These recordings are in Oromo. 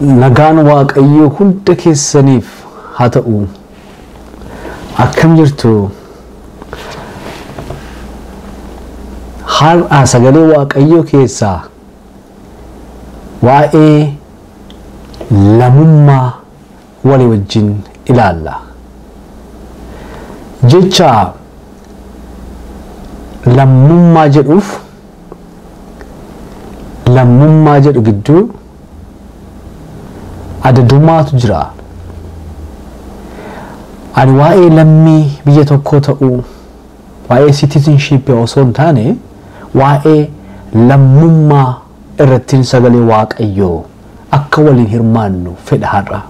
Nagaan waaqayyoo hunda keessaniif haa ta'u akkam jirtu har'a sagalee waaqayyoo keessaa waa'ee lamummaa walii wajjin ilaalla. Jecha lammummaa jedhuuf lammummaa jedhu gidduu adadumaatu jira. Ani waa'ee lammii biyya tokkoo ta'uu waa'ee citizenship osoo hin taane waa'ee lammummaa irrattin sagalee waaqayyoo akka waliin hirmaannu fedha har'a.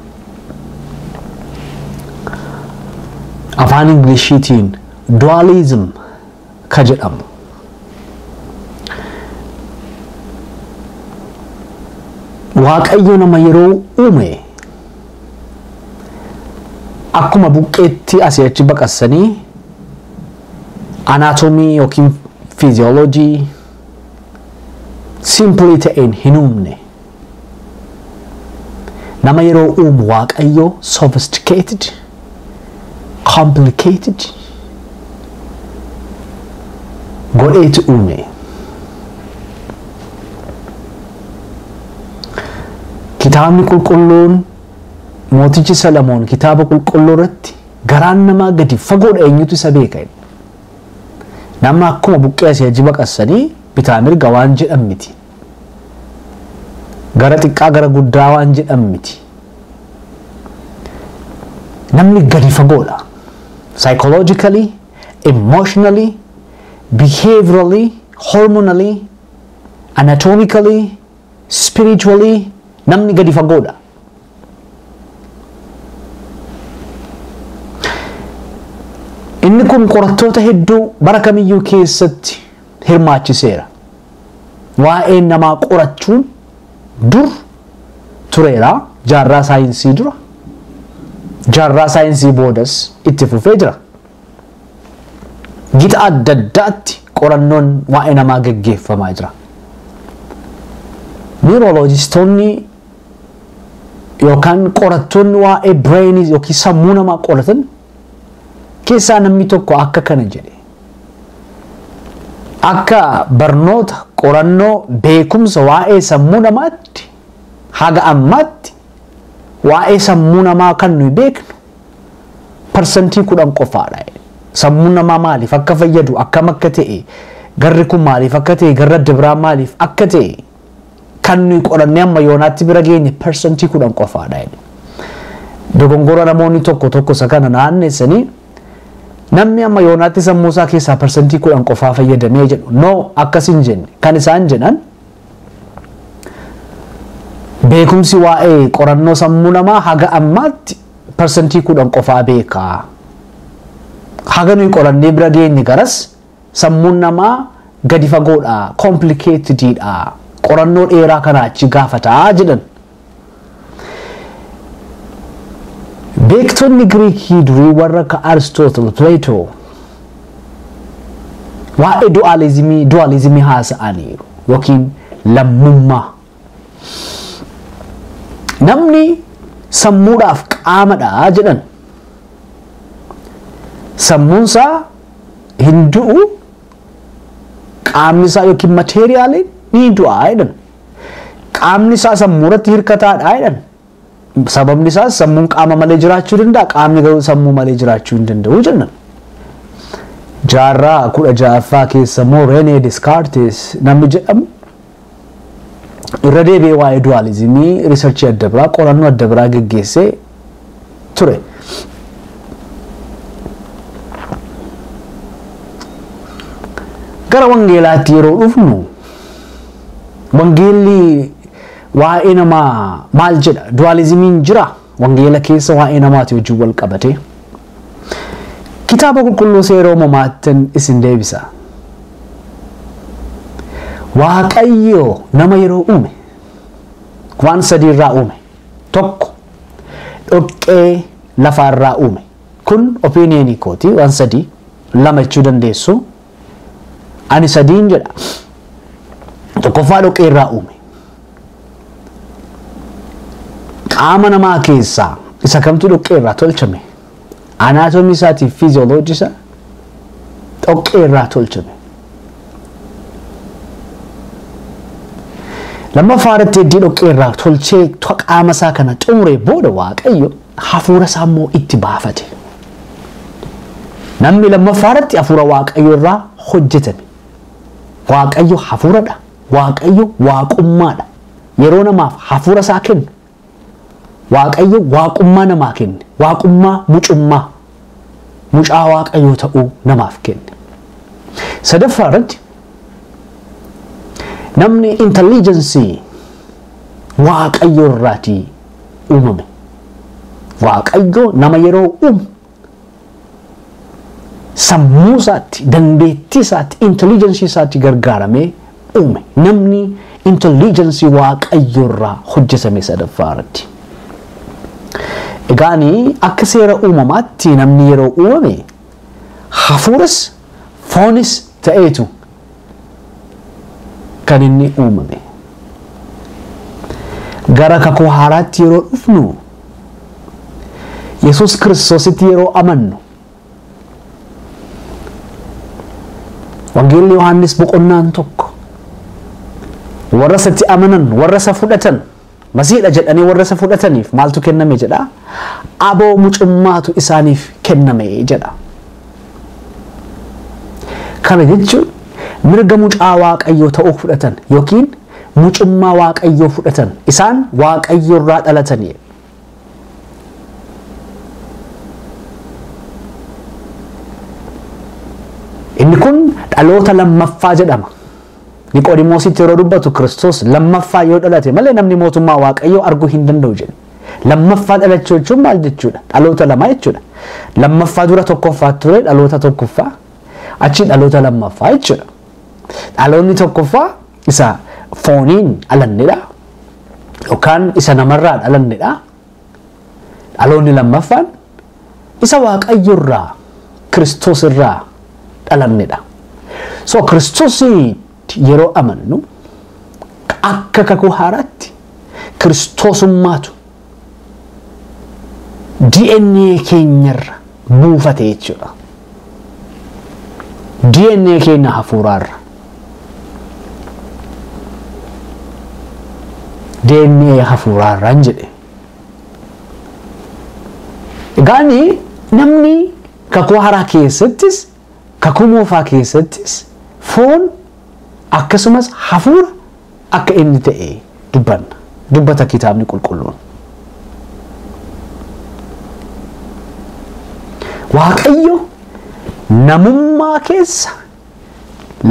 Afaan Inglishiitiin dualism ka jedhamu. Waaqayyo nama yeroo uume akkuma buqqeetti asii achi baqassanii anaatomii yookiin fiiziyooloojii simply ta'een hin uumne. Nama yeroo uumu waaqayyoo sophisticated, complicated godheeti uume. Kitaabni qulqulluun mootichi Salamoon kitaaba qulqulluu irratti garaan namaa gadi fagoodha eenyutu isa beeka jedha. Nama akkuma buqqee asii achi baqassanii bitaa mirga waan jedhan miti. Gara xiqqaa gara guddaa waan jedhan miti. Namni gadi fagoodha. Psychologically, emotionally, behaviorally, hormonally, anatomically, spiritually namni gadi fagoodha. Inni kun qorattoota hedduu bara kamiyyuu keessatti hirmaachiseera. Waa'ee namaa qorachuun dur tureera jaarraa saayinsii dura jaarraa saayinsii boodas itti fufee jira. Gita adda addaatti qorannoon waa'ee namaa gaggeeffamaa jira. Niirooloojistoonni yookaan qorattoonni waa'ee bireenii yookiin sammuu namaa qoratan keessaa namni tokko akka kana jedhe. Akka barnoota qorannoo beekumsa waa'ee sammuu namaatti haga ammaatti waa'ee sammuu namaa kan nuyi beeknu parsantii kudhan qofaadha. Sammuun namaa maaliif akka fayyadu akkam akka ta'e garri kun maaliif akka ta'e garri adda biraa maaliif akka ta'e Kan nuyi qorannee amma yoonaatti bira geenye persentii kudhan qofaadha jedhe. Dogongora namoonni tokko tokko isa kana naannessanii namni amma yoonaatti sammuu isaa keessaa persentii kudhan qofaa fayyadamee jedhu no akkas hin jenne kan isaan jedhan beekumsi waa'ee qorannoo sammuu namaa haga ammaatti persentii kudhan qofaa beekaa haga nuyi qorannee bira geenye garas Sammuun namaa gadi fagoodha, complicated dha, qorannoo dheeraa kanaa achi gaafata jedhan. Beektonni Giriikii durii warra akka Aristotle, Plato waa'ee du'aalizimii du'aalizimii haasa'aniiru yookiin lammummaa. Namni sammuudhaaf qaamadha jedhan sammuunsaa hin du'u qaamni isaa yookiin mateeriyaaliin ni du'a jedhan qaamni isaa sammuu irratti hirkataadha jedhan Sababni isaas sammuun qaama malee jiraachuu danda'a, qaamni garuu sammuu malee jiraachuu hin danda'u jenna. Jaarraa kudha ja'affaa keessa immoo Renee Descartes namni jedhamu irra deebi'ee waa'ee duwaalizimii riisarchii adda biraa qorannoo adda biraa geggeessee ture. Gara wangeelaatti yeroo dhufnu wangeelli Waa'ee namaa maal jedha? Duwaalizimiin jira wangeela keessa waa'ee namaati wajjin wal qabatee. Kitaaba qulqulluu seera uumamaattin isin deebisa. Waaqayyo nama yeroo uume waan sadii irraa uume. Tokko dhoqqee lafaa irraa uume. Kun opiiniyeenii kooti waan sadii lama jechuu dandeessu Ani sadiin jedha. Tokkoffaa dhoqqee irraa uume. Qaama namaa keessaa isa kamtu dhoqqee irraa tolchame. Anaatomii isaatiif fiiziyooloojii isaa dhoqqee irraa tolchame. Lammaffaa irratti heddii dhoqqee irraa tolchee qaama isaa kana xumure booda waaqayyo hafuura isaa immoo itti baafate. Namni lammaffaa irratti hafuura waaqayyo irraa hojjetame. Waaqayyo hafuuradha. Waaqayyo waaqummaadha. Yeroo namaaf hafuura isaa kennu waaqayyo waaqummaa namaa kenne. Waaqummaa mucummaa mucaa waaqayyoo ta'uu namaaf kenne. Sadaffaa irratti namni intelligencii waaqayyo irraatii uumame. Waaqayyo nama yeroo uumu sammuu isaatti, dandeettii isaatti, intelligensii isaatti gargaaramee uume. Namni intelligensii waaqayyo irraa hojjetame sadaffaa irratti. Egaani akka seera uumamaatti namni yeroo uumame hafuuras foonis ta'eetu kan inni uumame. Gara kakuu haaraatti yeroo dhufnu Yesuus Kiristoositti yeroo amannu Wangeelli Yohaannis boqonnaan tokko warra isatti amanan warra isa fudhatan Masiidha jedhanii warra isa fudhataniif maaltu kenname jedha? Aboo mucummaatu isaaniif kenname jedha. Kana jechuun mirga mucaa Waaqayyoo ta'uu fudhatan yookiin mucummaa Waaqayyoo fudhatan isaan Waaqayyorraa dhalatanii. Inni kun dhaloota lammaffaa jedhama. Niqoodimoositti yeroo dubbatu Kiristoos lammaffaa yoo dhalate malee namni mootummaa Waaqayyoo arguu hin danda'u jedhe. Lammaffaa dhalachuu jechuun maal jechuudha? Dhaloota lamaa jechuudha. Lammaffaa dura tokkoffaa ture dhaloota tokkoffaa achi dhaloota lammaffaa jechuudha. Dhaloonni tokkoffaa isa fooniin dhalannedha. Yookaan isa namarraa dhalannedha. Dhaloonni lammaffaan isa Waaqayyo irraa Kiristoos irraa dhalamnedha. So Kiristoositti yeroo amannu akka kakuu haaraatti Kiristoosummaatu DNA keenyarra buufate jechuudha. DNA keenya hafuuraarra. DNA hafuuraa irraan jedhe. Egaani namni kakuu haaraa keessattis kakuu moofaa keessattis foon akkasumas hafuura akka inni ta'e dubbanna. Dubbata kitaabni qulqulluun. Waaqayyo namummaa keessa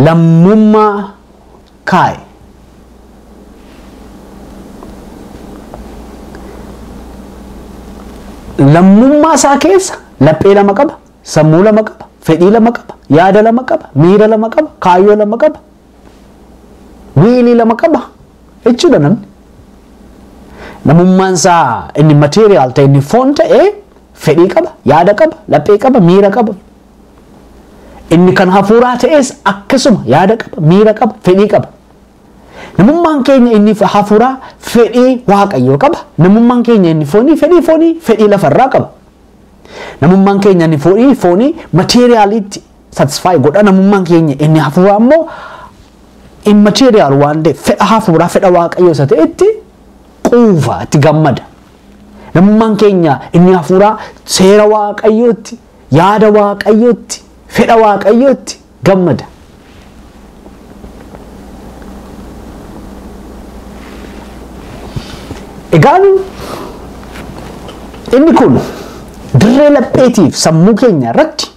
Lammummaa kaa'e. Lammummaa isaa keessa laphee lama qaba, sammuu lama qaba, fedhii lama qaba, yaada lama qaba, miira lama qaba, kaayyoo lama qaba, wiilii lama qaba jechuudha namni. Namummaan isaa inni material ta'e inni foon ta'e fedhii qaba, yaada qaba, laphee qaba, miira qaba, Inni kan hafuuraa ta'es akkasuma yaada qaba, miira qaba, fedhii qaba. Namummaan keenya inni hafuuraa fedhii waaqayyoo qaba. Namummaan keenya inni foonii fedhii foonii fedhii lafarraa qaba. Namummaan keenya inni foonii foonii mateeriyaaliitti satisfaayi godha. Namummaan keenya inni hafuuraa immoo immateriyaal waan ta'eef fedha hafuuraa fedha waaqayyoo isa ta'etti quufa itti gammada. Namummaan keenya inni hafuuraa seera waaqayyootti Yaada Waaqayyootti, fedha Waaqayyootti gammada. Egaan inni kun dirree lapheetiif sammuu keenya irratti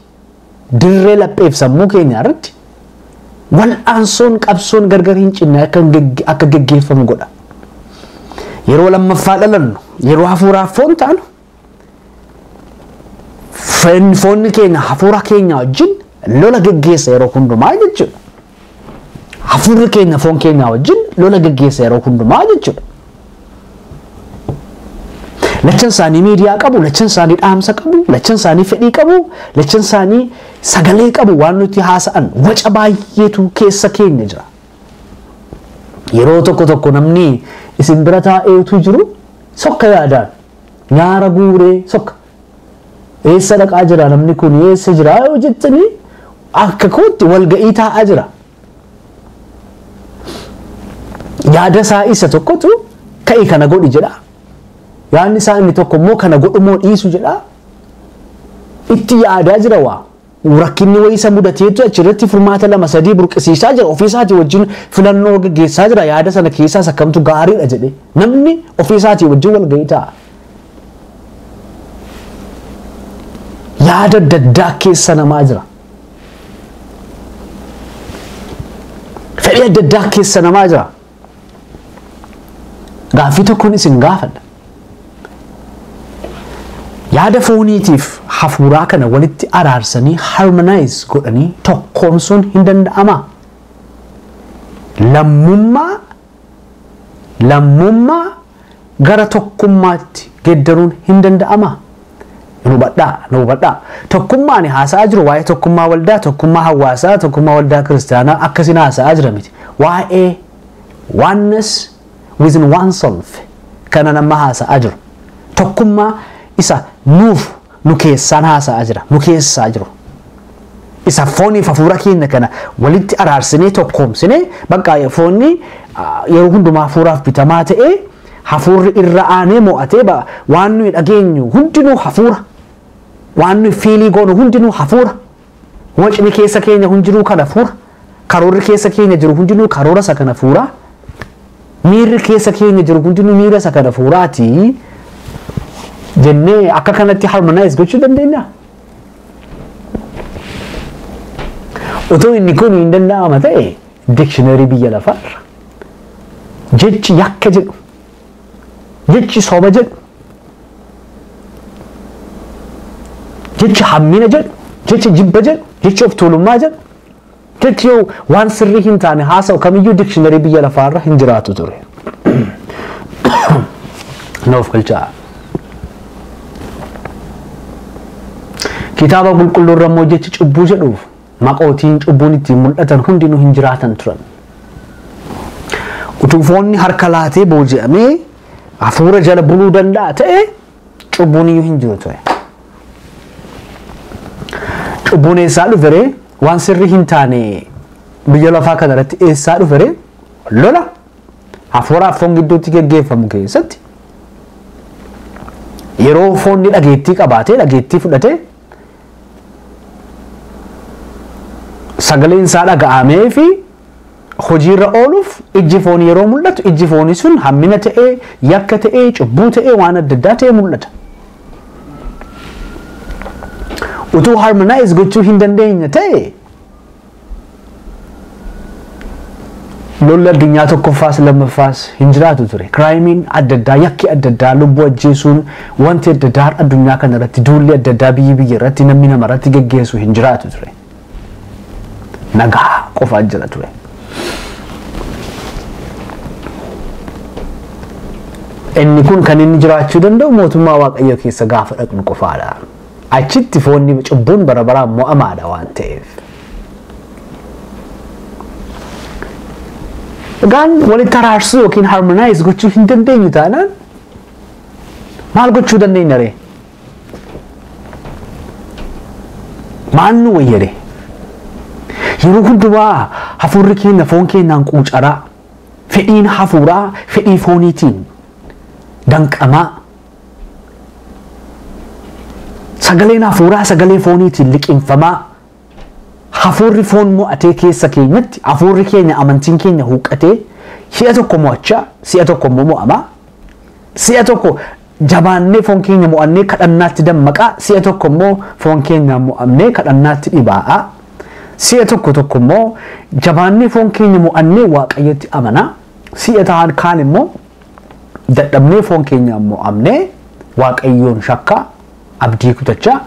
dirree lapheef sammuu keenya irratti wal'aansoon qabsoon gargar hin cinne akka hin gegge- akka geggeeffamu godha. Yeroo lammaffaa dhalannu, yeroo hafuuraaf foon taanu Foon- Foonni keenya hafuura keenya wajjin lola geggeessa yeroo hundumaa jechuudha. Hafuurri keenya foon keenya wajjin lola geggeessa yeroo hundumaa jechuudha. Lachan isaanii miidiyaa qabu, lachan isaanii dhaamsa qabu, lachan isaanii fedhii qabu, lachan isaanii sagalee qabu waan nuti haasa'an waca baay'eetu keessa keenya jira. Yeroo tokko tokko namni isin bira taa'eetu jiru sokka yaadaan Nyaara guuree sokka. Eessa dhaqaa jira namni kun eessa jira yoo jettanii akka kootti walga'ii taa'aa jira. Yaada isaa isa tokkotu ka'i kana godhi jedha. Yaadni isaa inni tokko immoo kana godhumoo dhiisu jedha. Itti yaadaa jira waa. Rakkinni wayii isa mudateetu achirratti furmaata lama sadii burqisiisaa jira. Ofii isaatii wajjin filannoo gaggeessaa jira. Yaada sana keessaas akkamtu gaariidha jedhee. Namni ofii isaatii wajjin walgahii ta'a. Yaada adda addaa keessa namaa jira. Fedhii adda addaa keessa namaa jira. Gaaffii tokkoon isin gaafadha. Yaada fooniitiif hafuuraa kana walitti araarsanii harmonize godhanii tokkoomsuun hin danda'amaa? Lammummaa lammummaa gara tokkummaatti geddaruun hin danda'amaa? Na hubadhaa, na hubadhaa. Tokkummaa ani haasa'aa jiru waa'ee tokkummaa waldaa, tokkummaa hawaasaa, tokkummaa waldaa kiristaanaa akkasiin haasa'aa jira miti. Waa'ee oneness within oneself kanan amma haasa'aa jiru. Tokkummaa isa nuuf nu keessaan haasa'aa jira, nu keessaa jiru. Isa fooniif hafuura keenya kana walitti araarsinee tokkoomsinee bakka foonni yeroo hundumaa hafuuraaf bitamaa ta'ee hafuurri irra aanee mo'atee ba- waan nuyi dhageenyu hundinuu hafuura. Waan nuyi fiilii goonu hundinuu hafuura. Wacni keessa keenya hundinuu kan hafuura, karoorri keessa keenya jiru hundinuu karoora isa kan hafuuraa, miirri keessa keenya jiru hundinuu miira isa kan hafuuraati jennee akka kanatti harmonize gochuu dandeenya. Otoo inni kun hin danda'ama ta'e dictionary biyya lafaarra jechi yakka jedhu jechi soba jedhu jechi hammina jedhu jechi jibba jedhu jechi of tuulummaa jedhu jechi yoo waan sirrii hin taane haasa'u kamiyyuu dikshiinarii biyya lafaarra hin jiraatu ture. Nuuf galchaa. Kitaaba qulqulluurra immoo jechi cubbuu jedhuuf maqootiin cubbuun ittiin mul'atan hundinuu hin jiraatan turan. Utuu foonni harka laatee booji'amee hafuura jala buluu danda'a ta'e cubbuun iyyuu hin jiru ture. Cubbuun eessaa dhufere waan sirrii hin taane biyya lafaa kana irratti eessaa dhufere lola hafuuraa fi foon gidduutti geggeeffamu keessatti yeroo foonni dhageettii qabaatee dhageettii fudhatee sagaleen isaa dhaga'amee fi hojiirra ooluuf ijji foon yeroo mul'atu ijji foonii sun hammina ta'ee yakka ta'ee cubbuu ta'ee waan adda addaa ta'ee mul'ata. Utuu harmonaayiz gochuu hin dandeenye ta'e Lolli addunyaa tokkoffaas lammaffaas hin jiraatu ture. Kiraayimiin adda addaa, yakki adda addaa, lubbuu ajjeesuun wanti adda addaa har'a addunyaa kana irratti duulli adda addaa biyyi biyya irratti namni nama irratti geggeessu hin jiraatu ture. Nagaa qofaa jira ture. Inni kun kan inni jiraachuu danda'u mootummaa Waaqayyoo keessa gaafa dhaqnu qofaadha. Achitti foon ni cubbuun bara baraan mo'amaadha waan ta'eef. Egaan walitti araarsuu yookiin harmonaayiz gochuu hin dandeenyu taanaan maal gochuu dandeenya ree? Maal nu wayya ree? Yeroo hundumaa hafuurri keenya foon keenyaan quucaraa fedhiin hafuuraa fedhii fooniitiin danqamaa Sagaleen hafuuraa sagalee fooniitiin liqimfamaa hafuurri foon mo'atee keessa keenyatti hafuurri keenya amantiin keenya huqqatee si'a tokko mo'achaa si'a tokko immoo mo'amaa si'a tokko jabaannee foon keenya mo'annee kadhannaatti dammaqaa si'a tokko immoo foon keenya mo'amnee kadhannaatti dhibaa'aa si'a tokko tokko immoo jabaannee foon keenya mo'annee waaqayyotti amanaa si'a ta'an kaan immoo dadhabnee foon keenyaan mo'amnee waaqayyoon shakkaa abdii kutachaa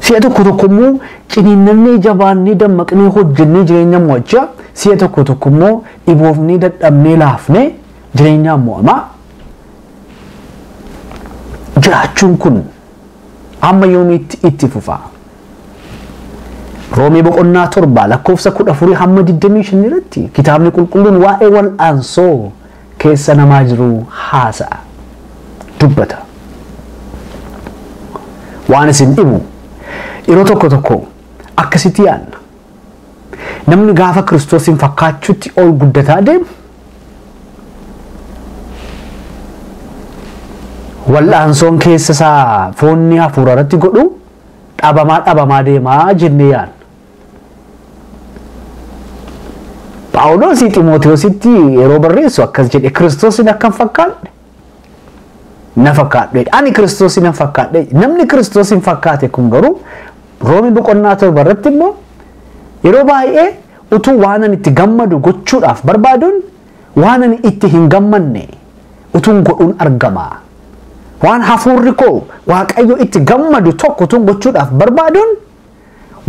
si'a tokko tokko immoo ciniinnannee jabaannee dammaqnee hojjennee jireenya mo'achaa si'a tokko tokko immoo dhiboofnee dadhabnee laafnee jireenyaan mo'amaa jiraachuun kun amma yoomiitti itti fufaa. Roomee boqonnaa 7 lakkoofsa 14 hamma 25 irratti kitaabni qulqulluun waa'ee wal'aansoo keessa namaa jiruu haasa'a. Dubbata. Waan isin dhibu yeroo tokko tokko akkasitti yaadna. Namni gaafa Kiristoosiin fakkaachuutti ol guddataa deemu wal'aansoon keessa isaa foonni hafuura irratti godhu dhabamaa dhabamaa deema jennee yaadna. Phaawulos Ximootiyoositti yeroo barreessu akkas jedhe Kiristoosiin akkan fakkaadhe na fakkaadhe ani Kiristoosiin nan fakkaadhe namni Kiristoosiin fakkaate kun garuu Roomii boqonnaa torba irratti immoo yeroo baay'ee utuu waan ani itti gammadu gochuudhaaf barbaaduun Waan ani itti hin gammanne utuun godhuun argama. Waan hafuurri koo Waaqayyo itti gammadu tokko utuun gochuudhaaf barbaaduun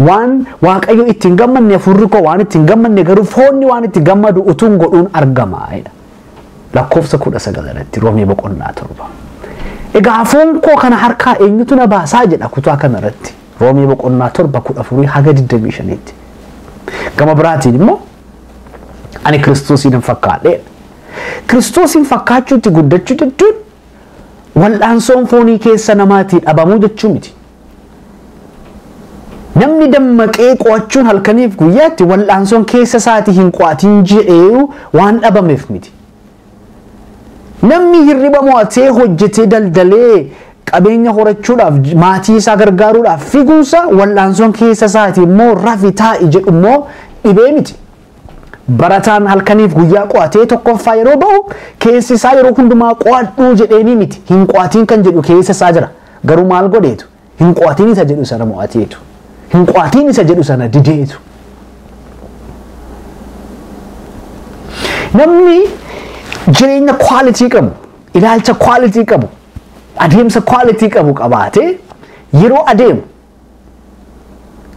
waan Waaqayyo itti hin gammanne hafuurri koo waan itti hin gammanne garuu foonni waan itti gammadu utuun godhuun argama. Lakkoofsa kudha sagal irratti roomee boqonnaa torba. Egaa foon koo kana harkaa eenyutu na baasaa jedha kutaa kana irratti roomee boqonnaa torba kudha afurii haga digdamii shaniitti. Gama biraatiin immoo Ani Kiristoosiin hin fakkaadheedha. Kiristoosiin fakkaachuutti guddachuu jechuun wal'aansoon foonii keessa namaatii dhabamuu jechuu miti. Namni dammaqee qo'achuun halkaniif guyyaatti wal'aansoon keessa isaatii hin qo'atiin jedhee waan dhabameef miti. Namni hirriba mo'atee hojjetee daldalee qabeenya horachuudhaaf maatii isaa gargaaruudhaaf figuunsa wal'aansoon keessa isaati immoo rafi taa'i jedhu immoo dhibee miti. Barataan halkaniif guyyaa qo'atee tokkoffaa yeroo ba'u keessi isaa yeroo hundumaa qo'adhuu jedheenii miti hin qo'atiin kan jedhu keessa isaa jira garuu maal godheetu Hin qo'atiin isa jedhu sana mo'ateetu. Hin qo'atiin isa jedhu sana dideetu. Namni jireenya kwaalitii qabu, ilaalcha kwaalitii qabu, adeemsa kwaalitii qabu qabaatee yeroo adeemu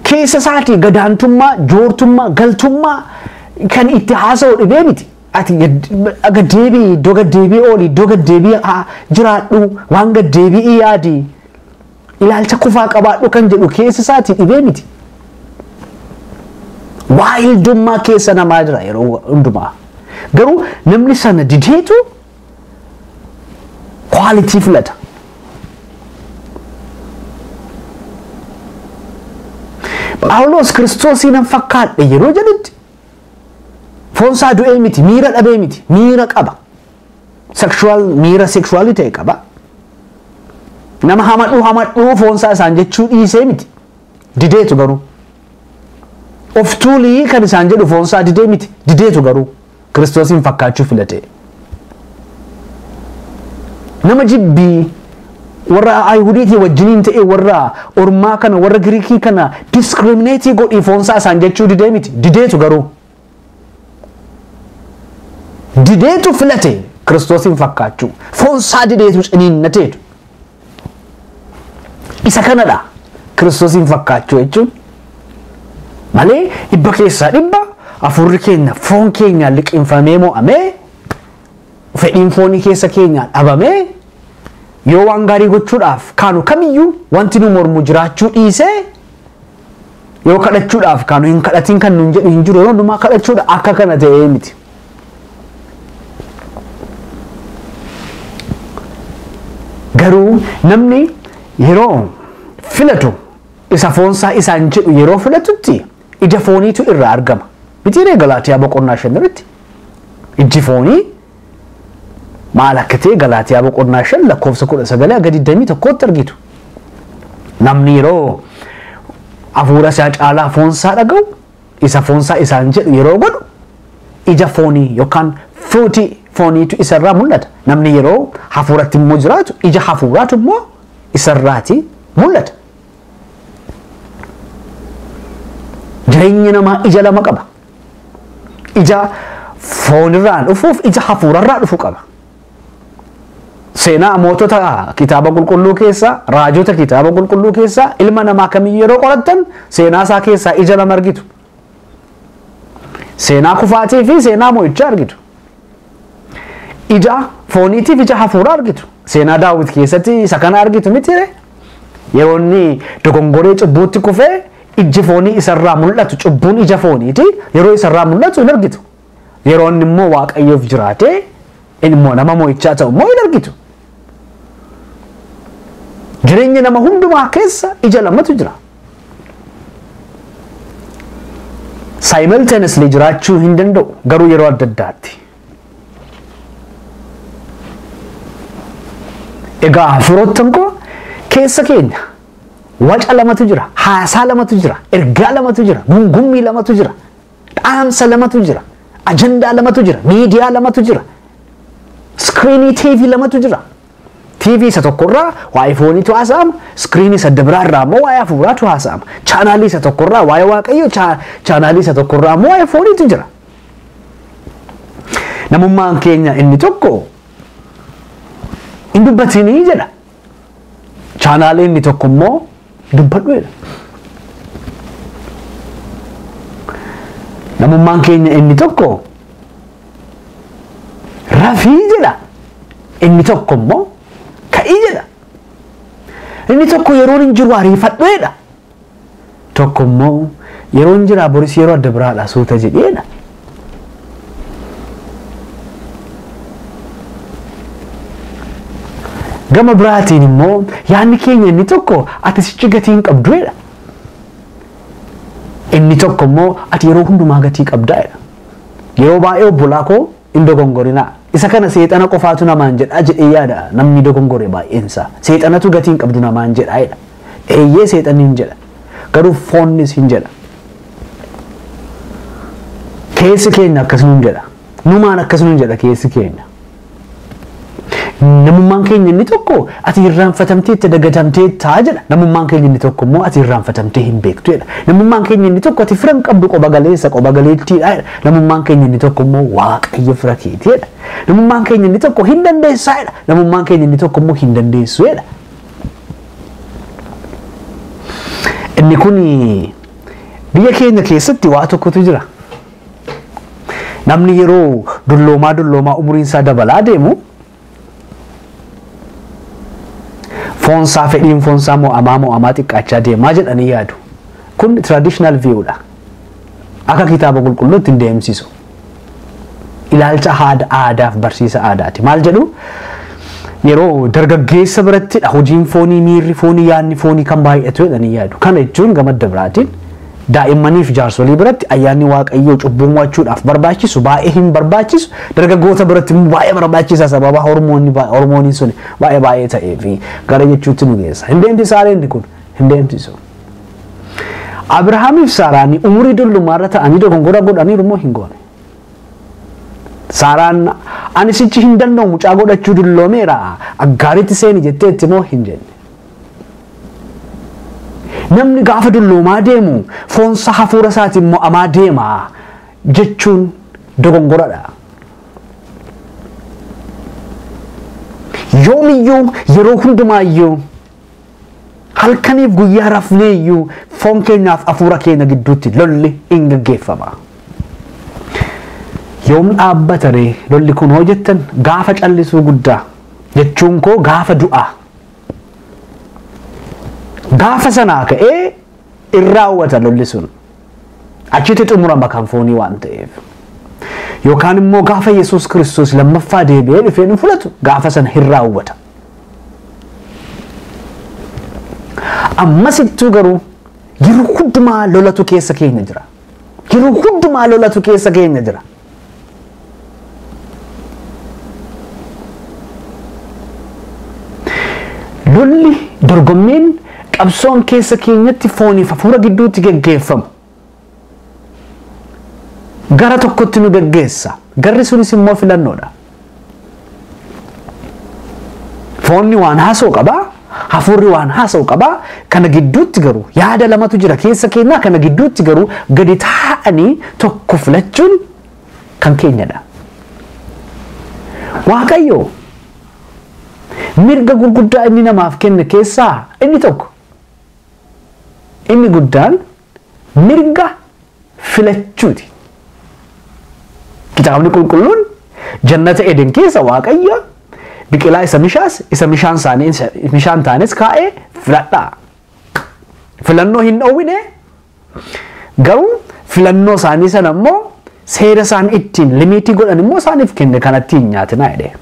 keessa isaatii gadaantummaa, joortummaa, galtummaa kan itti haasa'u dhibee miti. Ati gaddeebii iddoo gaddeebii ooli iddoo gaddeebii jiraadhu waan gaddeebii yaadi ilaalcha kufaa qabaadhu kan jedhu keessa isaati dhibee miti. Waayildummaa keessa namaa jira yeroo hundumaa. Garuu namni sana dideetu kwaalitii filata. Phaawulos kiristoosii nan fakkaadhe yeroo jedhutti foonsaa du'ee miti miira dhabee miti miira qaba sexual miira sexualii ta'e qaba. Nama hamadhuu hamadhuu foonsaa isaan jechuu dhiisee miti. Dideetu garuu. Of tuulii kan isaan jedhu foonsaa didee miti. Dideetu garuu. Kiristoosiin fakkaachuu filatee. Nama jibbii warra Ayihudiitii wajjiniin ta'e warra ormaa kana warra Giriikii kana diskirimineetii godhii foonsaa isaan jechuu didee miti. Dideetu garuu. dideetu filate kiristoosiin fakkaachuu foonsaa dideetu ciniinnateetu isa kanadha kiristoosiin fakkaachuu jechuun malee dhibba keessaa dhibba afurri keenya foon keenya liqinfamee mo'amee fedhiin foonii keessa keenya dhabamee yoo waan gaarii gochuudhaaf kaanu kamiyyuu wanti nu mormu jiraachuu dhiisee Yoo kadhachuudhaaf kaanu hin kadhatiin kan nuun jedhu hin jiru yeroo hundumaa kadhachuudha akka kana ta'ee miti. Garuu namni yeroo filatu isa foonsaa isaan jedhu yeroo filatutti ija fooniitu irraa argama. Mitiiree galaatiyaa boqonnaa shan irratti ijji foonii maal akka ta'e Galaatiyaa boqonnaa 5 lakkoofsa 19 hanga 21tti argitu. Namni yeroo hafuura isaa caalaa foon isaa dhaga'u isa foon isaa isaan jedhu yeroo godhu ija foonii yookaan fuutii fooniitu isarraa mul'ata. Namni yeroo hafuuratti immoo jiraatu ija hafuuraatu immoo isarraati mul'ata. Jireenyi namaa ija lama qaba. Ija foonirraa dhufuuf ija hafuurarraa dhufu qaba. Seenaa mootota kitaaba qulqulluu keessaa, raajota kitaaba qulqulluu keessaa, ilma namaa kamiyyuu yeroo qorattan seenaa isaa keessaa ija lama argitu. Seenaa kufaatii fi seenaa mo'ichaa argitu. Ija fooniitiif ija hafuuraa argitu. Seenaa daawwit keessatti isa kana argitu mitire. Yeroo inni dogongoree cubbuutti kufee ijji foonii isarraa mul'atu cubbuun ija fooniiti yeroo isarraa mul'atu hin argitu. Yeroo inni immoo waaqayyoof jiraatee immoo nama mo'ichaa ta'u immoo hin argitu. Jireenya nama hundumaa keessa ija lamatu jira. Simultaneously jiraachuu hin danda'u garuu yeroo adda addaatti. Egaa hafuurottan koo keessa keenya waca lamatu jira, haasaa lamatu jira, ergaa lamatu jira, gungummii lamatu jira. Dhaamsa lamatu jira. Ajandaa lamatu jira. Miidiyaa lamatu jira. Iskiriinii TV lamatu jira. TV isa tokkorraa waa'ee fooniitu haasa'ama. Iskiriinii isa adda biraa irraa immoo waa'ee hafuuraatu haasa'ama. Chaanaalii isa tokkorraa waa'ee waaqayyo chaanaalii isa tokkorraa immoo waa'ee fooniitu jira. Namummaan keenya inni tokko hin dubbatinii jedha. Chaanaalii inni tokko immoo dubbadhu jedha. Namummaan keenya inni tokko rafii jedha. Inni tokko immoo ka'ii jedha. Inni tokko yeroon hin jiru ariifadhu jedha. Tokko immoo yeroon jiraa boris yeroo adda biraadha suuta jedheedha. Gama biraatiin immoo yaadni keenya inni tokko ati sichi gatii hin qabduedha. Inni tokko immoo ati yeroo hundumaa gatii qabdaedha. Yeroo baay'ee obbolaa koo Hin dogongorinaa. Isa kana seexana qofaatu namaan jedha jedhee yaada namni dogongore baay'een isaa. Seexanatu gatii hin qabdu namaan jedha jedha. Eeyyee seexanni hin jedha. Garuu foonnis hin jedha. Keessi keenya akkas nuun jedha. Numaan akkas nuun jedha keessi keenya. Namummaan keenya inni tokko ati irraanfatamteetta dagatamteetta jedha. Namummaan keenya inni tokko immoo ati irraanfatamtee hin beektu jedha. Namummaan keenya inni tokko ati fira hin qabdu qoba galeessa qoba galeettiidha jedha. Namummaan keenya inni tokko immoo waaqayyo fira keeti jedha. Namummaan keenya inni tokko hin dandeessaa jedha. Namummaan keenya inni tokko immoo hin dandeessu jedha. Inni kun biyya keenya keessatti waa tokkotu jira. Namni yeroo dulloomaa dulloomaa umuriin isaa dabalaa deemu foon isaa fedhiin foon isaa mo'amaa mo'amaa xiqqaachaa deemaa jedhanii yaadu. Kun traditional view dha. Akka kitaaba qulqulluutti hin deemsisu. Ilaalcha haada aadaaf barsiisa aadaati. Maal jedhu? Yeroo dargaggeessa birattidha hojiin foonii miirri foonii yaadni foonii kan baay'atu jedhanii yaadu. Kana jechuun gamadda biraatiin Daa'immaniif jaarsolii biratti ayyaanni waaqayyoo cubbuu mo'achuudhaaf barbaachisu baay'ee hin barbaachisu dargaggoota biratti immoo baay'ee barbaachisa sababa hormoonni baa- hormooniin sun baay'ee baay'ee ta'ee fi gara jechuutti nu geessa hin deemsisaa reenni kun hin deemsisu. Abirahaamiif Saaraan umurii dullummaarra ta'anii dogongora godhaniiru immoo hin goone. Saaraan ani sichi hin danda'u mucaa godhachuu dulloomeera aggaaritti seeni jetteetti immoo hin jenne. Namni gaafa dulloomaa deemu foonsa hafuura isaatiin mo'amaa deema jechuun dogongoradha. Yoomiyyuu yeroo hundumaayyuu halkaniif guyyaa rafneeyyuu foon keenyaaf hafuura keenya gidduutti lolli in gaggeeffama. Yoom dhaabbata ree lolli kun hoo jettan gaafa callisuu guddaa jechuun koo gaafa du'aa Gaafa sanaa ka'ee in raawwata lolli sun. Achitti xumurama kan foonii waan ta'eef. Yookaan immoo gaafa Yesuus Kiristoos lammaffaa deebi'ee dhufee nu fudhatu gaafa sana hin raawwata. Ammas ittuu garuu yeroo hundumaa lolatu keessa keenya jira. Yeroo hundumaa lolatu keessa keenya jira. Lolli dorgommiin qabsoon keessa keenyatti fooniif hafuura gidduutti geggeeffamu gara tokkotti nu geggeessa. Garri sunis immoo filannoodha. Foonni waan haasoo qaba, hafuurri waan haasoo qaba. Kana gidduutti garuu yaada lamatu jira keessa keenyaa kana gidduutti garuu gadi taa'anii tokko filachuun kan keenyadha. Waaqayyo mirga gurguddaa inni namaaf kenne keessaa inni tokko inni guddaan mirga filachuuti. Kitaabni qulqulluun jannata Eden keessa Waaqayyo biqilaa isa mishaas isa mishaan isaanii mishaan taanis kaa'ee filadhaa. Filannoo hin dhoowwine garuu filannoo isaanii sana immoo seera isaan ittiin limiitii godhan immoo isaaniif kenne kanatti hin nyaatinaa jedhee.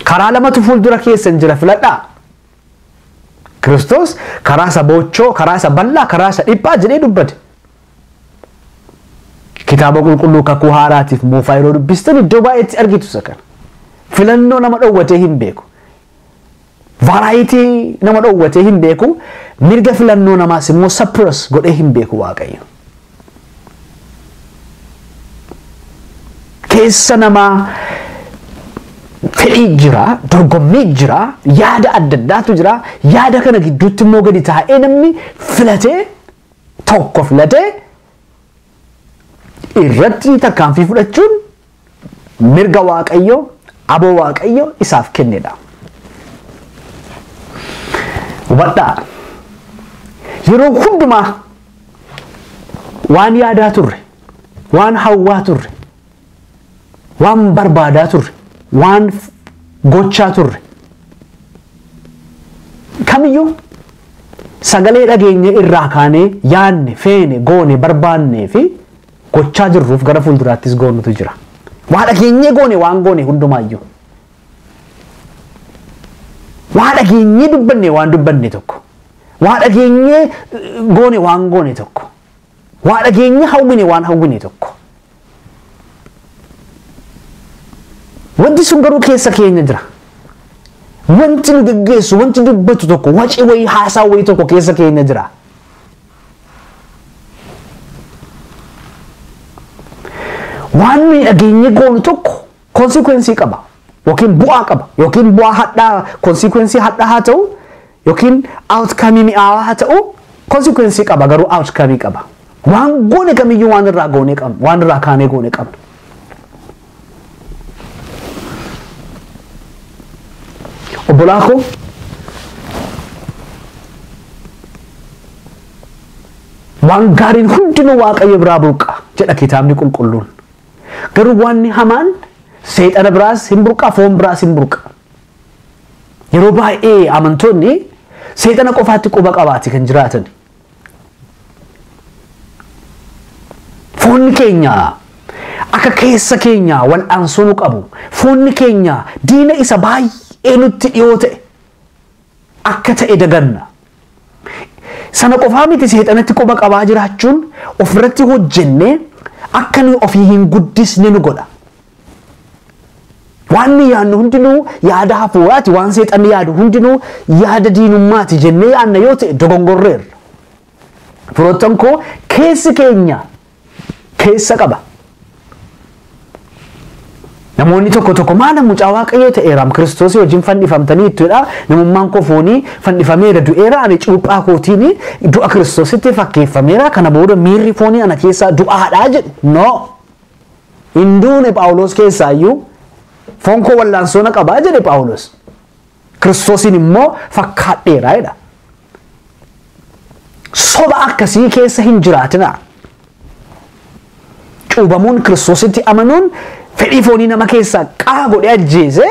Karaa lamatu fuuldura keessan jira filadhaa. Kiristoos karaa isa boochoo, karaa isa bal'aa, karaa isa dhiphaa jedhee dubbate. Kitaaba qulqulluu kakuu haaraatiif moofaa yeroo dubbistan iddoo baay'eetti argitu isa kana. Filannoo nama dhowwatee hin beeku. Vaaraayitii nama dhowwatee hin beeku. Mirga filannoo namaas immoo sappiras godhee hin beeku Waaqayyo. keessa namaa fedhii jira, dorgommii jira, yaada adda addaatu jira. Yaada kana gidduutti immoo gadi taa'ee namni filatee tokko filatee irratti tarkaanfii fudhachuun mirga waaqayyo aboo waaqayyo isaaf kennedha. Hubadhaa yeroo hundumaa waan yaadaa turre, waan hawwaa turre, waan barbaadaa turre, waan gochaa turre kamiyyuu sagalee dhageenya irraa kaanee yaanne, feene, goone, barbaannee fi gochaa jirruuf gara fuulduraattis goonutu jira. Waa dhageenyee goone waan goone hundumaayyuu. Waa dhageenyee dubbanne waan dubbanne tokko. Waa dhageenyee eh, goone waan goone tokko. Waa dhageenyee hawwine waan hawwine tokko. Wanti sun garuu keessa keenya jira. Wanti nu geggeessu, wanti dubbatu tokko, waci wayii haasaa wayii tokko keessa keenya jira. waan nuyi dhageenyee goonu tokko konsikwensii qaba yookiin bu'aa qaba yookiin bu'aa hadhaa konsikwensii hadhaa haa ta'u yookiin outkamii mi'aawaa haa ta'u konsikwensii qaba garuu outkamii qaba waan goone kamiyyuu waan irraa goone qabna waan irraa kaanee goone qabna obbolaa koo waan gaariin hundinuu waaqayyo biraa burqa jedha kitaabni qulqulluun garuu waanni hamaan seexana biraas hin burqa foon biraas hin burqa yeroo baay'ee amantoonni seexana qofaatti quba qabaati kan jiraatan Foonni keenya akka keessa keenya wal'aansoo nu qabu. Foonni keenya diina isa baay'ee nutti dhiyoo ta'e akka ta'e daganna. Sana qofaa miti seexanatti quba qabaa jiraachuun ofirratti hojjennee akka nuyi ofii hin guddisne nu godha. Waan nuyi yaadnu hundinuu yaada hafuuraati, waan seexanni yaadu hundinuu yaada diinummaati jennee yaadna yoo ta'e dogongorreerra. Firoottan koo keessi keenya keessa qaba. Namoonni tokko tokko maala mucaa waaqayyoo ta'eeraam kiristoosii wajjin fannifamtanii ittidha namummaan koo foonii fannifameera du'eera ani cuuphaa kootiin du'a kiristoositti fakkeeffameera kana booda miirri foonii ana keessaa du'aadhaa jedhu no hin duune Phaawulos keessaayyuu foon koo wallaansoo na qabaa jedhe Phaawulos. Kiristoosiin immoo fakkaadheera jedha. Soba akkasii keessa hin jiraatinaa. Cuubamuun Kiristoositti amanuun fedhii foonii nama keessaa qaa godhee ajjeese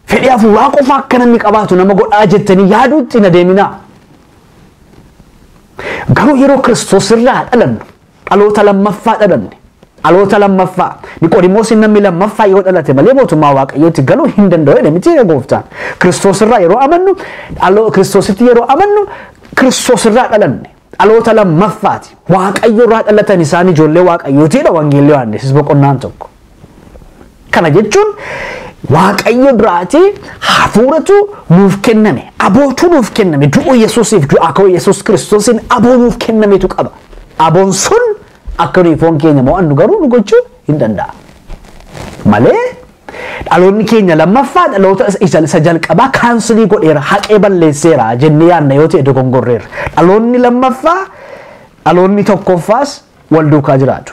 fedhii hafuuraa qofa akka namni qabaatu nama godhaa jettanii yaaduutti na deeminaa. Garuu yeroo Kiristoos irraa dhalannu Dhaloota lammaffaa dhalanne. Dhaloota lammaffaa. Niqoodimoosiin namni lammaffaa yoo dhalate malee mootummaa Waaqayyootti galuu hin danda'u jedhe miti gooftaan. Kiristoos irraa yeroo amannu, Kiristoositti yeroo amannu, Kiristoos irraa dhalanne. Dhaloota lammaffaati. Waaqayyo irraa dhalatan isaan ijoollee Waaqayyootiidha wangeellee Yohaannis boqonnaan tokko. Kana jechuun Waaqayyo biraatii hafuuratu nuuf kenname, abootu nuuf kenname, du'uu Yesuusiif du'aa ka'uu Yesuus Kiristoosiin aboo nuuf kennametu qaba. Aboon sun akka nuyi foon keenya mo'annu garuu nu gochuu hin danda'a. Malee dhaloonni keenya lammaffaa dhaloota isa isa jalqabaa kaansilii godheera, haqee balleesseera jennee yaadna yoo ta'e dogongorreerra. Dhaloonni lammaffaa dhaloonni tokkoffaas wal duukaa jiraatu.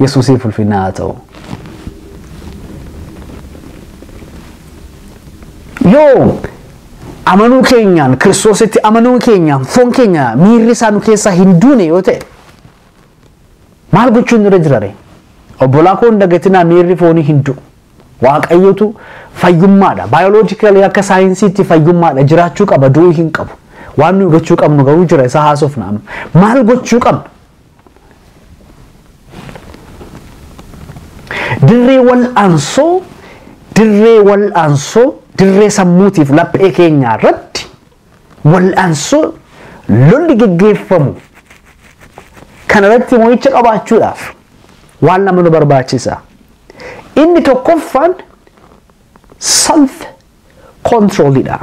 Yesuusiif ulfinna haa ta'u. Yoo amanuu keenyaan kiristoositti amanuu keenyaan foon keenya miirri isaa nu keessaa hin duune yoo ta'e maal gochuun nurra jirare? Obbolaa koo hin dagatinaa miirri foonii hin du'u. Waaqayyotu fayyummaadha. Baayoloojikalii akka saayinsiitti fayyummaadha. Jiraachuu qaba du'uu hin qabu. Waan nuyi gochuu qabnu garuu jira isa haasofna amma. Maal gochuu qabna? Dirree wal'aansoo dirree wal'aansoo dirree sammuutiif laphee keenyaa irratti wal'aansoo lolli geggeeffamu kana irratti mo'icha qabaachuudhaaf waan lama nu barbaachisa. Inni tokkoffaan self control dha.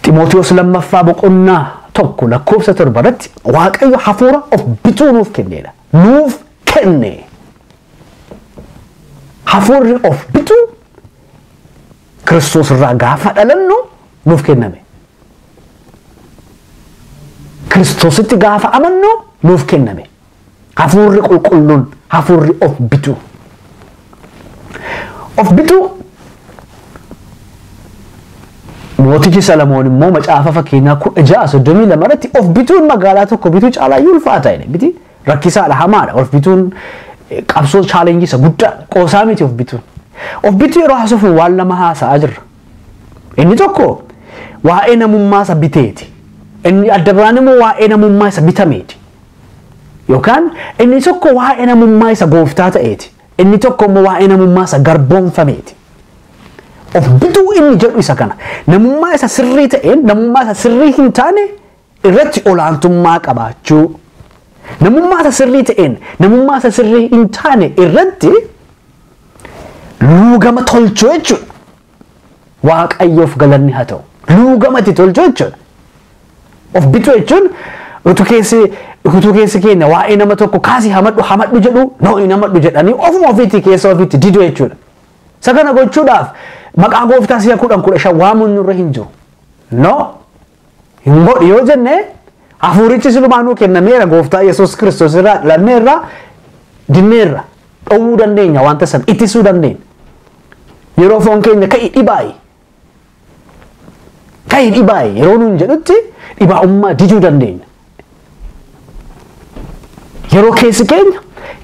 Ximootiyoos lammaffaa boqonnaa tokko lakkoofsa torba irratti Waaqayyo hafuura of bituu nuuf kenneedha. Nuuf kenne. Hafuurri of bituu Kiristoos irraa gaafa dhalannu nuuf kenname. Kiristoositti gaafa amannu nuuf kenname. Hafuurri qulqulluun hafuurri of bituu. Of bituu mootichi Salamoon immoo macaafa fakkeenyaa kudha ja'a soddomii lama irratti of bituun magaalaa tokko bituu caalaa iyyuu ulfaata jedhe miti rakkisaadha hamaadha of bituun eh, qabsoo chaalenjii isa guddaa qoosaa miti of bituun. Of bituu yeroo haasofnu waan lama haasa'aa jirra. Inni tokko waa'ee namummaa isa biteeti. Inni adda biraan immoo waa'ee namummaa isa bitameeti. Yookaan inni tokko waa'ee namummaa isa gooftaa ta'eeti. Inni tokko immoo waa'ee namummaa isa garboomfameeti. Of bituu inni jedhu isa kana. Namummaa isa sirrii ta'een namummaa isa sirrii hin taane irratti olaantummaa qabaachuu. Namummaa isa sirrii ta'een namummaa isa sirrii hin taane irratti luugama tolchuu jechuudha. Waaqayyoof galanni haa ta'u. Luugama itti tolchuu jechuudha. Of bituu jechuun utuu keessi utuu keessi keenya waa'ee nama tokko kaasii hamadhu hamadhu jedhu noo hin hamadhu jedhanii ofuma ofiitti keessa ofiitti didu jechuudha. Isa kana gochuudhaaf maqaa gooftaa si'a kudhan kudha shan waamuun nurra hin jiru. Noo hin godhu yoo jenne hafuurichi silumaa nuu kennameera gooftaa yesus kiristoos irraa dhalanneerra dinneerra dhowwuu dandeenya wanta san ittisuu dandeenya yeroo foon keenya ka'i dhibaa'i ka'i dhibaa'i yeroo nuun jedhutti dhibaa'ummaa diduu dandeenya Yeroo keessi keenya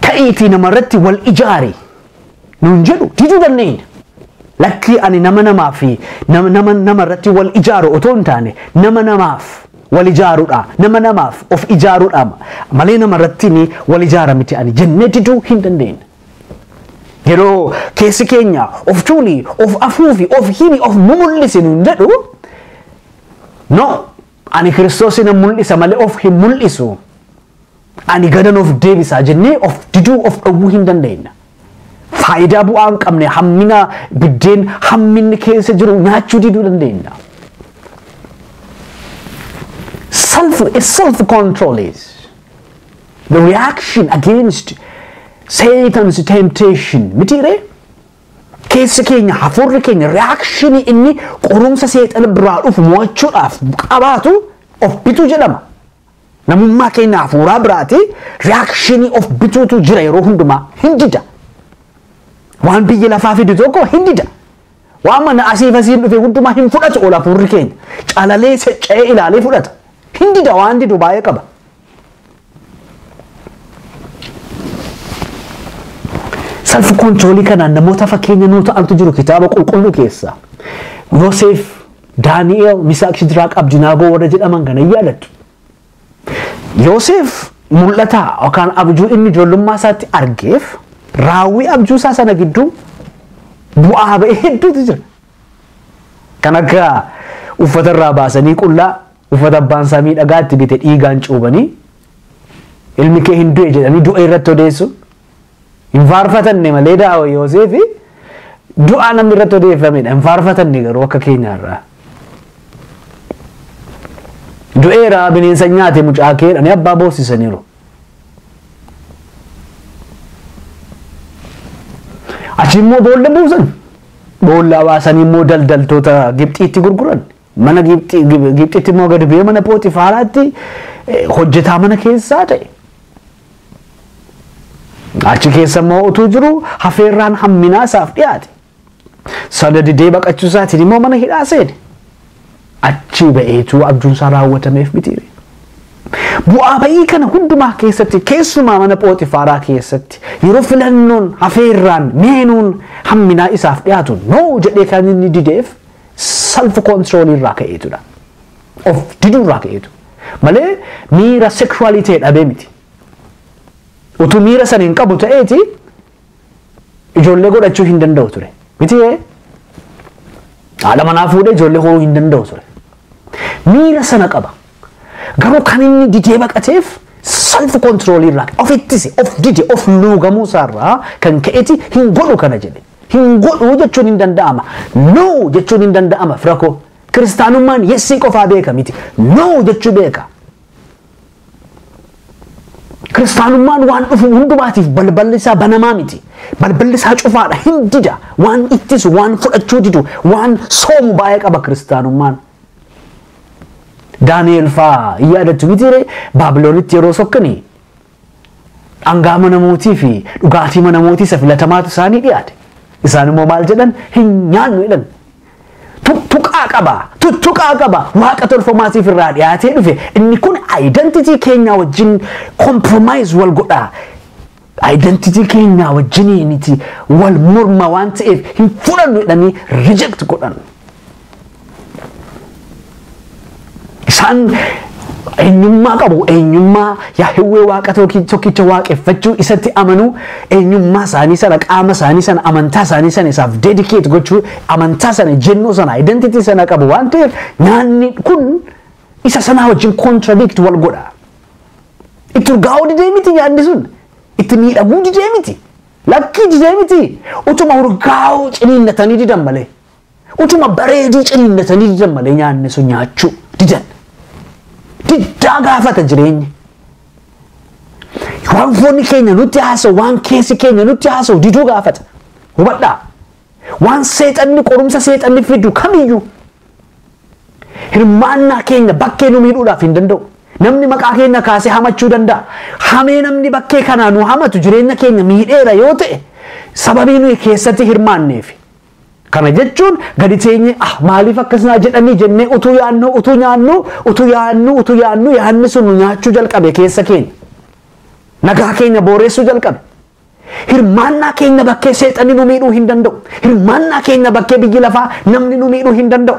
ka'iitii namarratti wal ijaari nuun jedhu diduu dandeenya. Lakkii ani nama namaa fi nama nama nama irratti wal ijaaru otoo hin taane nama namaaf wal ijaarudha. Nama namaaf of ijaarudha malee nama irratti ni wal ijaara miti ani jennee diduu hin dandeenya. Yeroo keessi keenya of tuuli, of afuufi, of himi, of mumul'isi nuun jedhu no Ani Kiristoos nan mul'isa malee of hin mul'isu. Ani gadan of deebisaa jennee of diduu of dhowwuu hin dandeenya. Faayidaa bu'aa hin qabne hammina biddeen hamminni keessa jiru nyaachuu diduu dandeenya. Self, self control is the reaction against Satan's temptation. Mitiiree? Keessi keenya hafuurri keenya reakshinii inni qorumsa seexana biraa dhufu mo'achuudhaaf qabaatu of bituu jedhama. Namummaa keenya hafuuraa biraati reakshinii of bituutu jira yeroo hundumaa hin dida. Waan biyya lafaa fidu tokko hin dida. Waan mana asiif asiin dhufe hundumaa hin fudhatu ol hafuurri keenya. Calalee secca'ee ilaalee fudhata. Hin dida waan didu baay'ee qaba. Salfi kontiroolii kanaan namoota fakkeenya nuu ta'antu jiru kitaaba qulqulluu keessa. Yoseef, Daani'eel, Misaaq, Shidiraaq, Abdinaagoo warra jedhaman kana hin yaadattu. Yoseef mul'ata yookaan abjuu inni ijoollummaa isaatti argeef raawwii abjuu isaa sana gidduu bu'aa ba'ee hedduutu jira. Kan akka uffata irraa baasanii qullaa Uffata abbaan isaa miidhagaa itti bite dhiigaan cuubanii ilmi kee hin du'e jedhanii du'a irratti odeessuun hin faarfatanne malee daawa Yooseefi du'aa namni irratti odeeffamedha hin faarfatanne garuu akka keenyaarraa. Du'eera bineensa nyaate mucaa kee jedhanii abbaa boossisaniiru. Achi immoo boolla buusan. Boolla baasanii immoo daldaltoota Gibxiitti gurguran. Mana Gibxi- Gib- Gibxitti immoo gadi bu'ee mana Pooxifaaraatti eh, hojjetaa mana keessaa ta'e. Achi keessa immoo utuu jiru hafeerraan hamminaa isaaf dhiyaate. Sana didee baqachuu isaatiin immoo mana hidhaa seene. Achii ba'eetu abjuun isaa raawwatameef mitiire. Bu'aa ba'ii kana hundumaa keessatti keessumaa mana Pooxifaaraa keessatti yeroo filannoon hafeerraan meenuun hamminaa isaaf dhiyaatu noo jedhee kan inni dideef self control irraa ka'eetudha. Of diduu irraa ka'eetu. Malee miira sexualii ta'e dhabee miti. Utuu miira sana hin qabu ta'eeti ijoollee godhachuu hin danda'u ture. Miti haadha manaa fuudhee ijoollee horuu hin danda'u ture. Miira sana qaba. Garuu kan inni didee baqateef self control irraa ofittise of dide of luugamuu isaarraa kan ka'eeti hin godhu kana jedhe. Hin godhu jechuun hin danda'ama. No jechuun hin danda'ama fira koo. Kiristaanummaan yessii qofaa beeka miti. No jechuu beeka. Kiristaanummaan waan dhufu hundumaatiif balballi isaa banamaa miti. Balballi isaa cufaadha hin dida. Waan ittisu, waan fudhachuu didu, waan soomu baay'ee qaba kiristaanummaan. Daani'eel fa'aa hin yaadattu mitiiree Baabiloonitti yeroo sokkanii Dhangaa mana mootii fi dhugaatii mana mootii isa filatamaatu isaanii dhiyaate. Isaan immoo maal jedhan? Hin nyaannu jedhan. Tuttuqaa qaba, tuttuqaa qaba, waaqa tolfamaa siif irraa dhiyaatee dhufe. Inni kun identity keenyaa wajjin compromise wal godhaa. Identity keenyaa wajjiniiniti wal morma waan ta'eef hin fudhannu jedhanii reject godhan. Isaan eenyummaa qabu. Eenyummaa Yaahwee Waaqa tokkicha waaqeffachuu isatti amanuu eenyummaa isaanii sana qaama isaanii sana amantaa isaanii sana isaaf dedikeet gochuu amantaa sana jennoo sana identity sana qabu waan ta'eef nyaanni kun isa sanaa wajjin contradict wal godha. Itti urgaa'uu didee miti nyaanni sun. Itti miidhaguu didee miti. Lakkii didee miti. Utuma urgaa'uu ciniinnatanii didan malee. Utuma bareeduu ciniinnatanii didan malee nyaanni sun nyaachuu didan. Diddaa gaafata jireenyi. Waan foonni keenya nutti haasa'u, waan keessi keenya nutti haasa'u diduu gaafata. Hubadhaa. Waan seexanni qorumsa seexanni fidu kamiyyuu hirmaannaa keenya bakkee nu miidhuudhaaf hin danda'u. Namni maqaa keenya kaasee hamachuu danda'a. Hamee namni bakkee kanaa nu hamatu jireenya keenya miidheera yoo ta'e sababii nuyi keessatti hirmaanneefi. Kana jechuun gadi teenyee ah maaliif akkas naa jedhanii jennee utuu yaannuu utuu nyaannuu utuu yaannuu utuu yaannuu yaanni sun nu nyaachuu jalqabe keessa keenya. Nagaa keenya booreessuu jalqabe. Hirmaannaa keenya bakkee seexanni nu miidhuu hin danda'u. Hirmaannaa keenya bakkee biyyi lafaa namni nu miidhuu hin danda'u.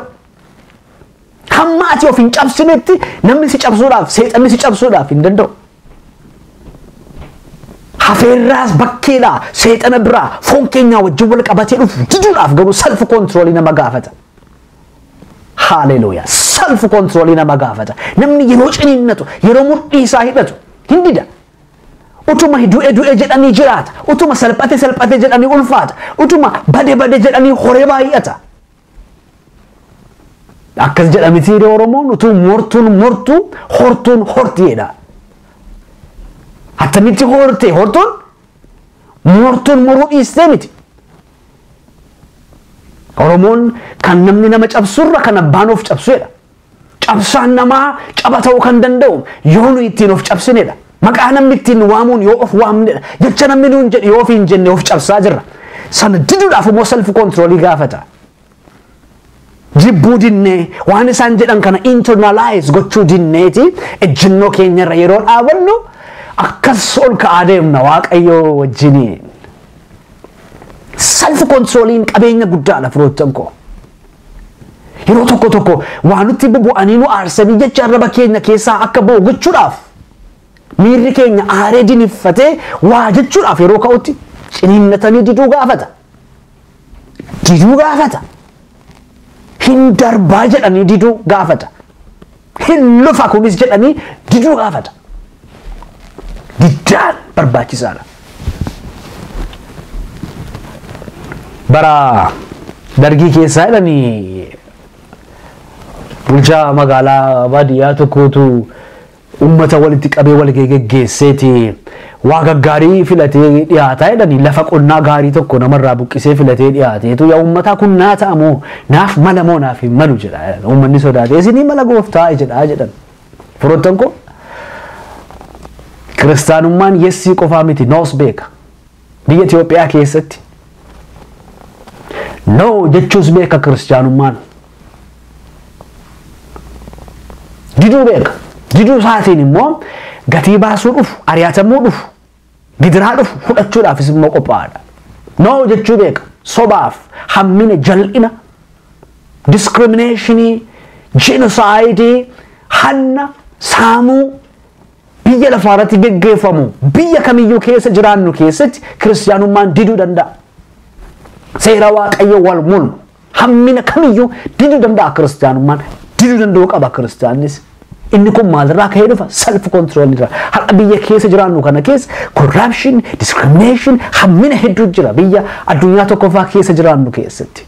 Hamma ati of hin cabsinetti namni si cabsuudhaaf seexanni si cabsuudhaaf hin danda'u. Hafeerraas bakkeedha seexana biraa foon keenyaa wajjin wal qabatee dhufu diduudhaaf garuu salfi koontiroolii nama gaafata. Haaleluuyaa! Salfi koontiroolii nama gaafata. Namni yeroo ciniinnatu yeroo mudhii isaa hidhatu hin dida. Utuma du'e du'e jedhanii jiraata. Utuma salphate salphate jedhanii ulfaata. Utuma bade bade jedhanii horee baay'ata. Akkas jedha mitiiree Oromoon utuu mortuun mortu hortuun horti jedha. Attamitti horte hortuun mortuun moruu dhiistee miti. Oromoon kan namni nama cabsurra kan abbaan of cabsu jedha. Cabsaan namaa caba ta'uu kan danda'u yoo nu ittiin of cabsinedha. Maqaa namni ittiin nu waamuun yoo of waamnedha. Jecha namni nuun jedhe yoo ofiin jenne of cabsaa jirra. Sana diduudhaaf immoo self controlii gaafata. Jibbuu dinnee waan isaan jedhan kana internalize gochuu dinneeti ejjennoo keenyarra yeroo dhaabannu akkas ol ka'aa deemna waaqayyoo wajjiniin. Self controliin qabeenya guddaadha firoottan koo. Yeroo tokko tokko waa nutti bubu'anii nu aarsanii jecha arraba keenya keessaa akka ba'u gochuudhaaf miirri keenya aaree diniffatee waa jechuudhaaf yeroo ka'utti ciniinnatanii diduu gaafata. Diduu gaafata. Hin darbaa jedhanii diduu gaafata. hin lufa kunis jedhanii diduu gaafata. Diddaan barbaachisaadha. Bara dargii keessaa jedhanii bulchaa magaalaa baadiyyaa tokkootu uummata walitti qabee wal geggeesseeti Waa gaggaarii filatee dhiyaataa jedhani lafa qonnaa gaarii tokko nama irraa buqqisee filatee dhiyaateetu yaa uummataa kun naa ta'a moo naaf mala moo naaf hin malu jedha uummanni sodaatee isinii mala gooftaa jedhaa jedhan firoottan koo kiristaanummaan yessii qofaa miti noos beeka biyya Itoophiyaa keessatti noo jechuus beeka kiristaanummaan Diduu beeka. Diduu isaatiin immoo gatii baasuu dhufu, ari'atamuu dhufu, gidiraa dhufu fudhachuudhaafis immoo qophaa'aadha. Noo jechuu beeka. Sobaaf, hammina, jal'ina, diskiriminashinii, jenosaayidii, hanna, saamuu biyya lafaa irratti geggeeffamu biyya kamiyyuu keessa jiraannu keessatti kiristiyaanummaan diduu danda'a. Seera waaqayyo wal mul'u. Hammina kamiyyuu diduu danda'a kiristaanummaan. Diduu danda'uu qaba kiristaannis. Inni kun maalirraa ka'ee dhufa? Self control irraa. Har'a biyya keessa jiraannu kana keessa corruption, discrimination, hammina hedduu jira biyya addunyaa tokkoffaa keessa jiraannu keessatti.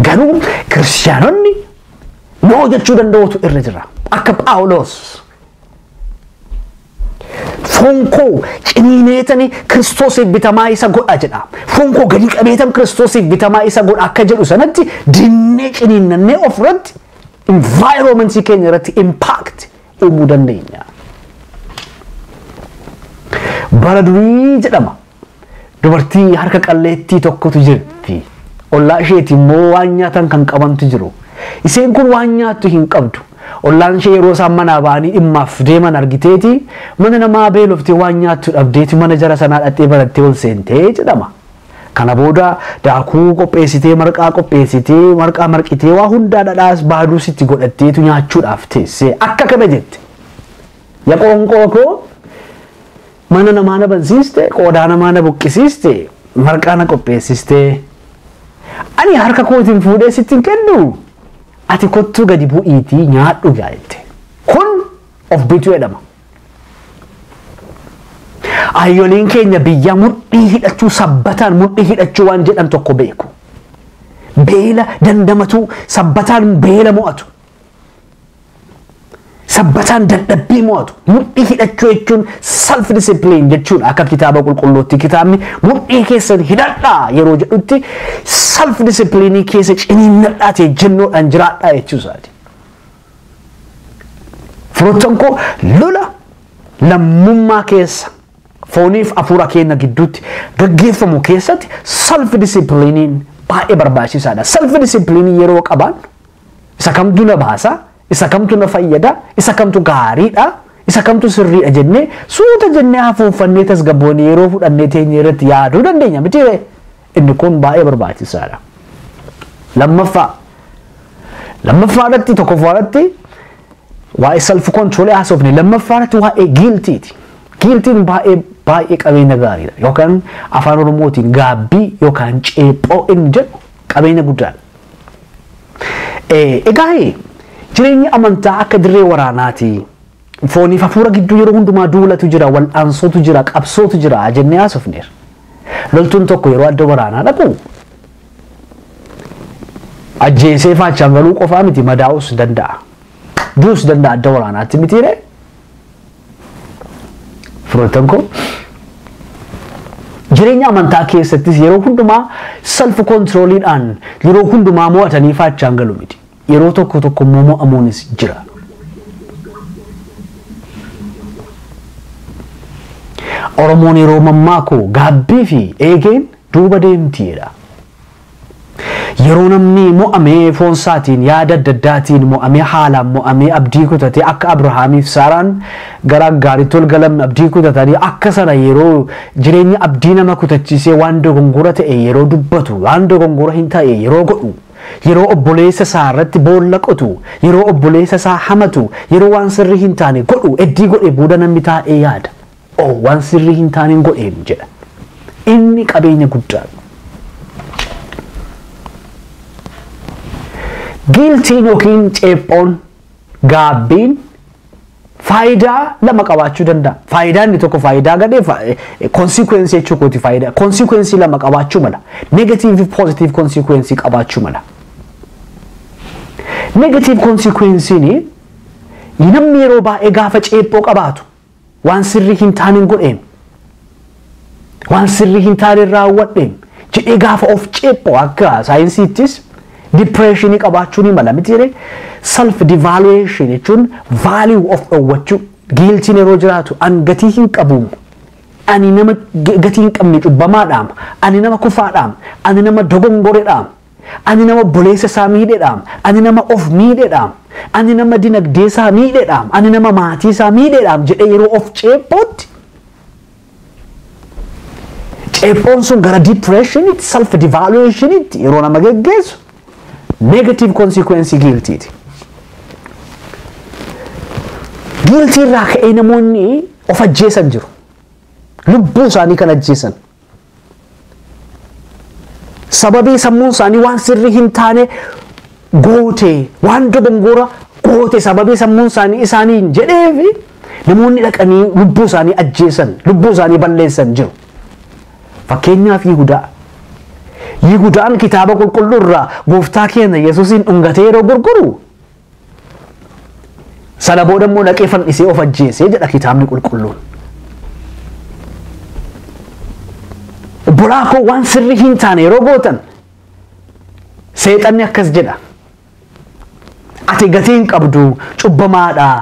Garuu kiristaanonni noo jechuu danda'utu irra jira. Akka Phaawulos Foon koo ciniineetani Kiristoosiif bitamaa isa godha jedha. Foon koo gadi qabeetan Kiristoosiif bitamaa isa godha akka jedhu sanatti dinnee ciniinnannee ofirratti environmentii keenya irratti impact uumuu dandeenya. Bara durii jedhama. Dubartii harka qalleettii tokkotu jirti. Ollaa isheeti immoo waan nyaatan kan qabantu jiru. Iseen kun waan nyaattu hin qabdu. Ollaan ishee yeroo isaan manaa ba'anii dhimmaaf deeman argiteeti mana namaa beeloftee waan nyaattu dhabdeeti mana jara sanaa dhaqxee banattee ol seentee jedhama. Kana booda daakuu qopheessitee marqaa qopheessitee marqaa marqitee waa hundaa dhadhaas baaduus itti godhatteetu nyaachuudhaaf teessee akka kana jette. Ya qoonqoo koo Mana namaa na bansiiste, qoodaa namaa na buqqisiiste, marqaa na qopheessiste. Ani harka kootiin fuudhee sitti hin kennu. Ati kottuu gadi bu'iitii nyaadhu gaa jette. Kun of bituu jedhama. Ayyoliin keenya biyya mudhii hidhachuu sabbataan mudhii hidhachuu waan jedhan tokko beeku. Beela dandamatuu sabbataan beela mo'atu. Sabbataan dadhabbii mo'atu. Mudhii hidhachuu jechuun self discipline jechuudha akka kitaaba qulqulluutti kitaabni mudhii keessan hidhadhaa yeroo jedhutti self discipline keessa ciniinnadhaa ta'e jennoodhaan jiraadhaa jechuusaati. Firoottan koo lola lammummaa keessa fooniif afuura keenya gidduutti gaggeeffamu keessatti self discipline baay'ee barbaachisaadha. Self discipline yeroo qabaannu Isa kamtu na baasa, isa kamtu na fayyada, isa kamtu gaariidha, isa kamtu sirriidha jennee suuta jennee hafuuffannee tasgabboonee yeroo fudhannee teenyee irratti yaaduu dandeenya miti ree? Inni kun baay'ee barbaachisaadha. Lammaffaa lammaffaa irratti tokkoffaa irratti waa'ee self control haasofne lammaffaa irratti waa'ee giiltiiti. Giiltiin baay'ee baay'ee qabeenya gaariidha yookaan afaan oromootiin gaabbii yookaan ceephoo inni jedhu qabeenya guddaadha. Egaa jireenyi amantaa akka dirree waraanaati. Fooniif hafuura gidduu yeroo hundumaa duulatu jira, wal'aansootu jira, qabsootu jira jennee haasofneera. Loltuun tokko yeroo adda waraanaa dhaqu ajjeesee faachaan galuu qofaa miti madaa'uus danda'a. Duus danda'a adda waraanaatti mitiiree. Firoottan koo jireenya amantaa keessattis yeroo hundumaa self controliidhaan yeroo hundumaa mo'atanii faachaan galu miti. Yeroo tokko tokko immoo mo'amuunis jira. Oromoon yeroo mammaaku gaabbii fi eegeen duuba deemti jedha. Yeroo namni mo'amee foonsaatiin, yaada adda addaatiin mo'amee, haalaan mo'amee, abdii kutatee akka Abrahaamiif Saaraan gara Aggaaritti ol galan abdii kutatanii akka sana yeroo jireenya abdii nama kutachiisee waan dogongora ta'e yeroo dubbatu, waan dogongora hin ta'e yeroo godhu, yeroo obboleessa isaa irratti boolla qotu, yeroo obboleessa isaa hamatu, yeroo waan sirrii hin taane godhu eddii godhe booda namni taa'ee yaada. oo waan sirrii hin taaneen godheem jedhan. Inni qabeenya guddaadha. Giiltiin yookiin ceephoon gaabbiin faayidaa lama qabaachuu danda'a. Faayidaa inni tokko faayidaa gadhee konsikwensii jechuu kooti faayidaa konsikwensii lama qabaachuu mala. Negatiivii fi poozitiivii konsikwensii qabaachuu mala. Negatiivii konsikwensiin namni yeroo baay'ee gaafa ceephoo qabaatu Waan sirrii hin taanen godheem, waan sirrii hin taanen raawwadheem jedhee gaafa of ceephoo akka saayinsiittis dipireeshinii qabaachuu ni mala miti jedhee self devaluation jechuun value of dhowwachuu giiltiin yeroo jiraatu an gatii hin qabuum ani nama gatii hin qabne cubbamaadhaam ani nama kufaadhaam ani nama dogongoredhaam Ani nama obboleessa isaa miidhedhaam. Ani nama of miidhedhaam. Ani nama dinagdee isaa miidhedhaam. Ani nama maatii isaa miidhedhaam jedhee yeroo of ceephootti ceephoon sun gara depression'itti, self devaluation'itti yeroo nama geggeessu negative consequence guiltiiti. Guiltii irraa ka'ee namoonni of ajjeesan jiru. Lubbuu isaanii kan ajjeesan. Sababii sammuun isaanii waan sirrii hin taane goote waan dogongoora goote sababii sammuun isaanii isaaniin jedheefi namoonni dhaqanii lubbuu isaanii ajjeesan lubbuu isaanii balleessan jiru. Fakkeenyaaf Yihudaa. Yihudaan kitaaba qulqulluu irraa gooftaa keenya Yesuusiin dhungatee yeroo gurguru Sana booda immoo dhaqee fannisee of ajjeesee jedha kitaabni qulqulluun. Obbolaa koo waan sirrii hin taane yeroo gootan seexanni akkas jedha. Ati gatii hin qabdu cubbamaadhaa.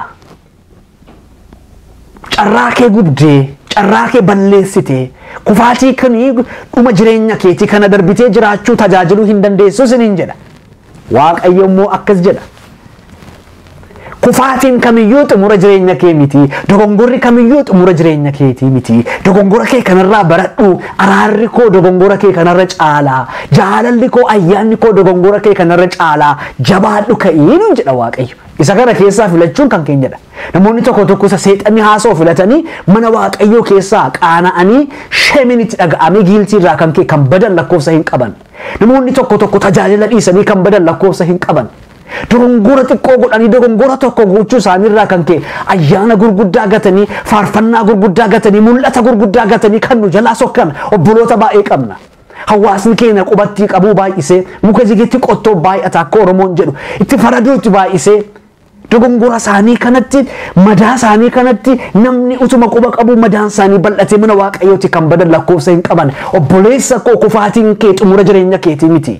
carraa kee gubdee carraa kee balleessitee kufaatii kan dhuma jireenya keetii kana darbitee jiraachuu tajaajiluu hin dandeessu isiniin jedha waaqayyo immoo akkas jedha kufaatiin kamiyyuu xumura jireenya kee miti dogongorri kamiyyuu xumura jireenya keetii miti dogongora kee kanarraa baradhu araarri koo dogongora kee kanarra caalaa jaalalli koo ayyaanni koo dogongora kee kanarra caalaa jabaadhu ka'ii nuun jedha waaqayyo Isa kana keessaa filachuun kan keenyadha. Namoonni tokko tokko isa seexanni haasa'u filatanii mana waaqayyoo keessaa qaana'anii shemiin itti dhaga'amee giiltii irraa kan ka'e kan badan lakkoofsa hin qaban. Namoonni tokko tokko tajaajila dhiisanii kan badan lakkoofsa hin qaban. Dogongora xiqqoo godhanii dogongora tokko gochuu isaanii irraa kan ka'e ayyaana gurguddaa gatanii faarfannaa gurguddaa gatanii mul'ata gurguddaa gatanii kan nu jalaa sokkan obboloota baay'ee qabna. Hawaasni keenya qubattii qabuu baay'isee muka jigetti qottoo baay'ata akka Oromoon jedhu itti faraduutti baay'isee dogongora isaanii kanatti madaa isaanii kanatti namni utuma quba qabuu madaan isaanii bal'atee mana waaqayyooti kan badan lakkoofsa hin qaban obboleessa koo kufaatiin kee xumura jireenya keetii miti.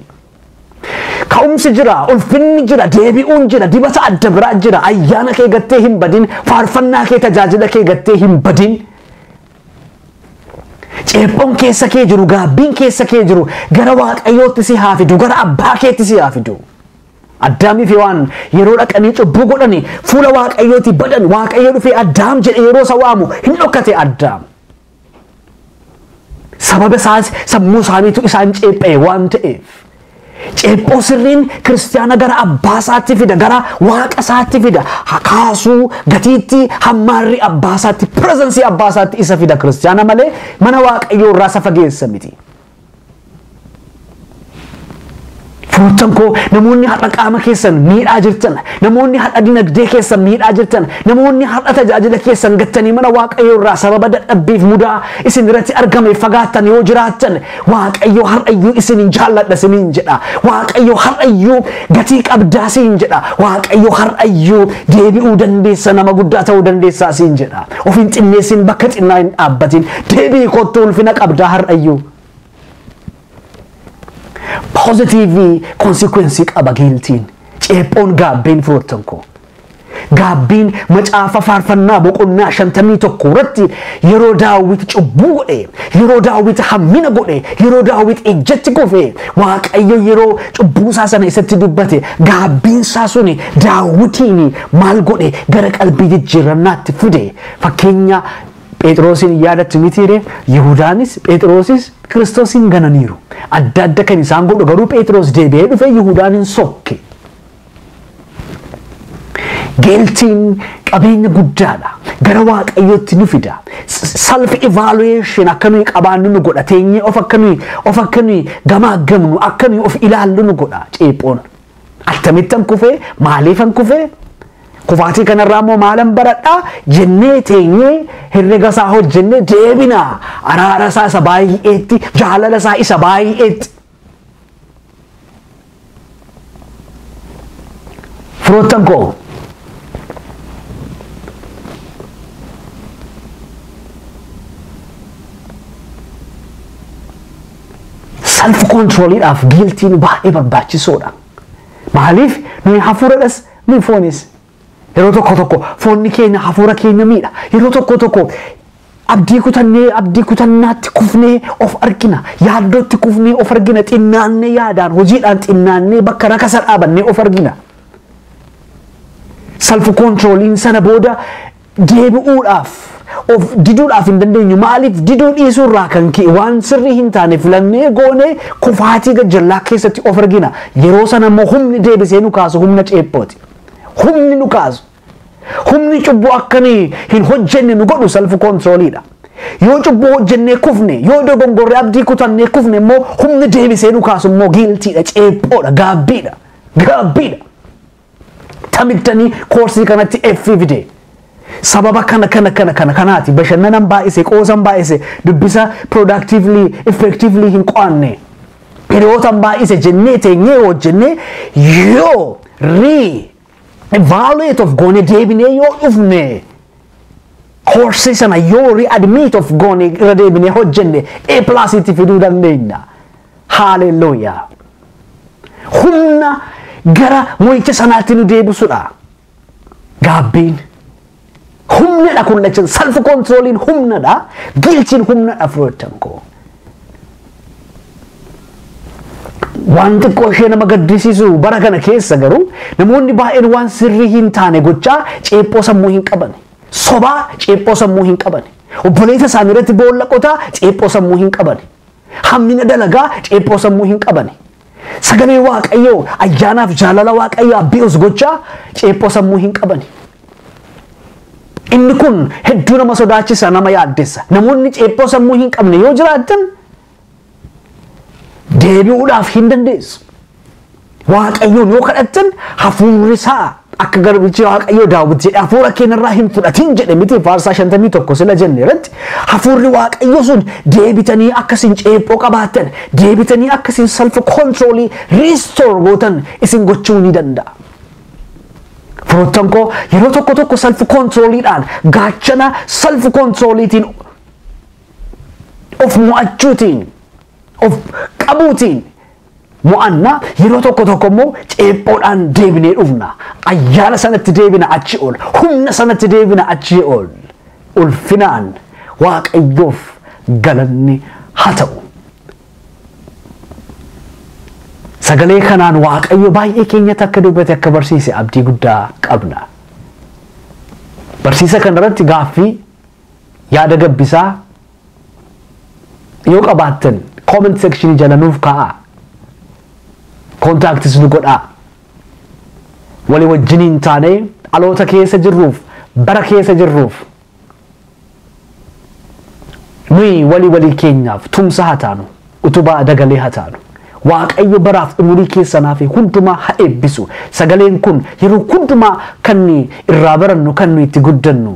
Ka'umsi jira, ulfinni jira, deebi'uun jira, dibata adda biraa jira, ayyaana kee gattee hin badin, faarfannaa kee tajaajila kee gattee hin badin. Ceephon keessa kee jiru, gaabbiin keessa kee jiru gara Waaqayyootti si haa fidu, gara abbaa keetti si haa fidu. Addaamii fi waan yeroo dhaqanii cubbuu godhani fuula Waaqayyooti badan Waaqayyo dhufee Addaam jedhe yeroo isa waamu hin dhokkate Addaam. Sababa isaas sammuu isaaniitu isaan ceepha'e waan ta'eef. Ceephoo sirriin kiristiyaana gara abbaa isaatti fida, gara waaqa isaatti fida. Hakaasuu, gatiitti, hammaarri abbaa isaatti, pirezansii abbaa isaatti isa fida kiristiyaana malee mana waaqayyoo irraa isa fageessa miti. Firoottan koo namoonni har'a qaama keessan miidhaa jirtan, namoonni har'a dinagdee keessan miidhaa jirtan, namoonni har'a tajaajila keessan gattanii mana waaqayyoo irraa sababa dadhabbiif mudaa isin irratti argameef fagaattan yoo jiraattan Waaqayyo har'ayyuu isinin jaalladha isiniin jedha. Waaqayyo har'ayyuu gatii qabdaa siin jedha. Waaqayyo har'ayyuu deebi'uu dandeessa nama guddaa ta'uu dandeessaa siin jedha. Of hin xinneessin bakka xinnaa hin dhaabbatin. Deebi'i kottu ulfina qabdaa har'ayyuu. Poozitiivii konsikwensii qaba giiltiin. Ceephoon gaabbeen firoottan koo. Gaabbiin macaafa faarfannaa boqonnaa shantamii tokko irratti yeroo daawwit cubbuu godhe, yeroo daawwit hammina godhe, yeroo daawwit ejjatti kufe, waaqayyo yeroo cubbuusaa sana isatti dubbate gaabbiinsaa suni daawwitiin maal godhe gara qalbii jijjiirrannaatti fide. Fakkeenya Phexroosiin yaadatti mitiire Yihudaanis Phexroosis Kiristoosiin gananiiru. Adda adda kan isaan godhu garuu Phexroos deebi'ee dhufee Yihudaan hin sokke. Geeltiin qabeenya guddaadha. Gara Waaqayyootti nu fida. Self evaluation akka nuyi qabaannu nu godha. Teenyee of akka nuyi of akka nuyi gamaaggamnu akka nuyi of ilaallu nu godha ceephoon. Akkamittan kufee maaliifan kufee kufaatii kanarraa immoo maalan baradhaa jennee teenyee herrega isaa hojjennee deebina araara isaa isa baay'eetti jaalala isaa isa baay'eetti. Firoottan koo self controliidhaaf giiltiin baay'ee barbaachisoodha. Maaliif nuyi hafuuradhas nuyi foonis Yeroo tokko tokko foonni keenya hafuura keenya miidha. Yeroo tokko tokko abdii kutannee abdii kutannaatti kufnee of argina. Yaaddootti kufnee of argina. Xinnaannee yaadaan hojiidhaan xinnaannee bakka rakasa dhaabannee of argina. Salfu koontirooliin sana booda deebi'uudhaaf of diduudhaaf hin dandeenyu maaliif diduu dhiisuu irraa kan ka'e waan sirrii hin taane filannee goonee kufaatii gajjallaa keessatti of argina yeroo sana immoo humni deebisee nu kaasu humna ceephooti humni nu kaasu humni cubbuu akka nuyi hin hojjenne nu godhu salfu koontirooliidha yoo cubbuu hojjennee kufne yoo dogongorree abdii kutannee kufne immoo humni deebisee nu kaasu immoo giiltiidha ceephoodha gaabbiidha gaabbiidha Tamittanii koorsii kanatti F fide. Sababa kana kana kana kana kanaati bashannanan baay'ise qoosan baay'ise dubbisa productively effectively hin qo'anne hiriyootan baay'ise jennee teenyee hojjennee yoo re evaluate of goone deebinee yoo dhufne koorsii sana yoo re admit of goone irra deebinee hojjenne A plus itti fiduu dandeenya. Haalelooyaa! Humna gara mo'icha sanaatti nu deebisudha. Gaabbiin. Humnadha kun lachan salfi kontirooliin humnadha giilchiin humnadha firoottan koo. Waan xiqqoo ishee nama gaddisiisu bara kana keessa garuu namoonni baay'een waan sirrii hin taane gochaa ceephoo sammuu hin qabane. Sobaa ceephoo sammuu hin qabane. Obboleessa isaanii irratti boolla qotaa ceephoo sammuu hin qabane. Hammina dalagaa ceephoo sammuu hin qabane. Sagalee Waaqayyoo ayyaanaaf jaalala Waaqayyo abbi'us gochaa ceephoo sammuu hin qabane. Inni kun hedduu nama sodaachisa nama yaaddessa. Namoonni ceephoo sammuu hin qabne yoo jiraattan deebi'uudhaaf hin dandeessu. Waaqayyoon yoo kadhattan hafuurri isaa akka garbichi Waaqayyoo Daawit jedhe hafuura keenyarraa hin fudhatin jedhe miti faarsaa 51 sila jenne irratti hafuurri Waaqayyoo sun deebitanii akka isin ceephoo qabaattan deebitanii akka isin self controlii restore gootan isin gochuu ni danda'a. Firoottan koo yeroo tokko tokko self controliidhaan gaachana self controliitiin of mo'achuutiin of qabuutiin mo'anna, yeroo tokko tokko immoo ceephoodhaan deebinee dhufna. Ayyaana sanatti deebina achi ol, humna sanatti deebina achi ol. Ulfinaan Waaqayyoof galanni haa ta'u. Sagalee kanaan Waaqayyo baay'ee keenyatti akka dubbate akka barsiise abdii guddaa qabna. Barsiisa kanarratti gaaffii Yaada gabbisaa yoo qabaattan comment section jala nuuf kaa'aa. Contacts nu godhaa. Walii wajjiniin taanee dhaloota keessa jirruuf bara keessa jirruuf nuyi walii walii keenyaaf tumsa haa taanu utubaa dagalee haa taanu. Waaqayyo baraaf umurii keessanaa fi hundumaa haa eebbisu. Sagaleen kun yeroo hundumaa kan irraa barannu kan nuyi itti guddannu.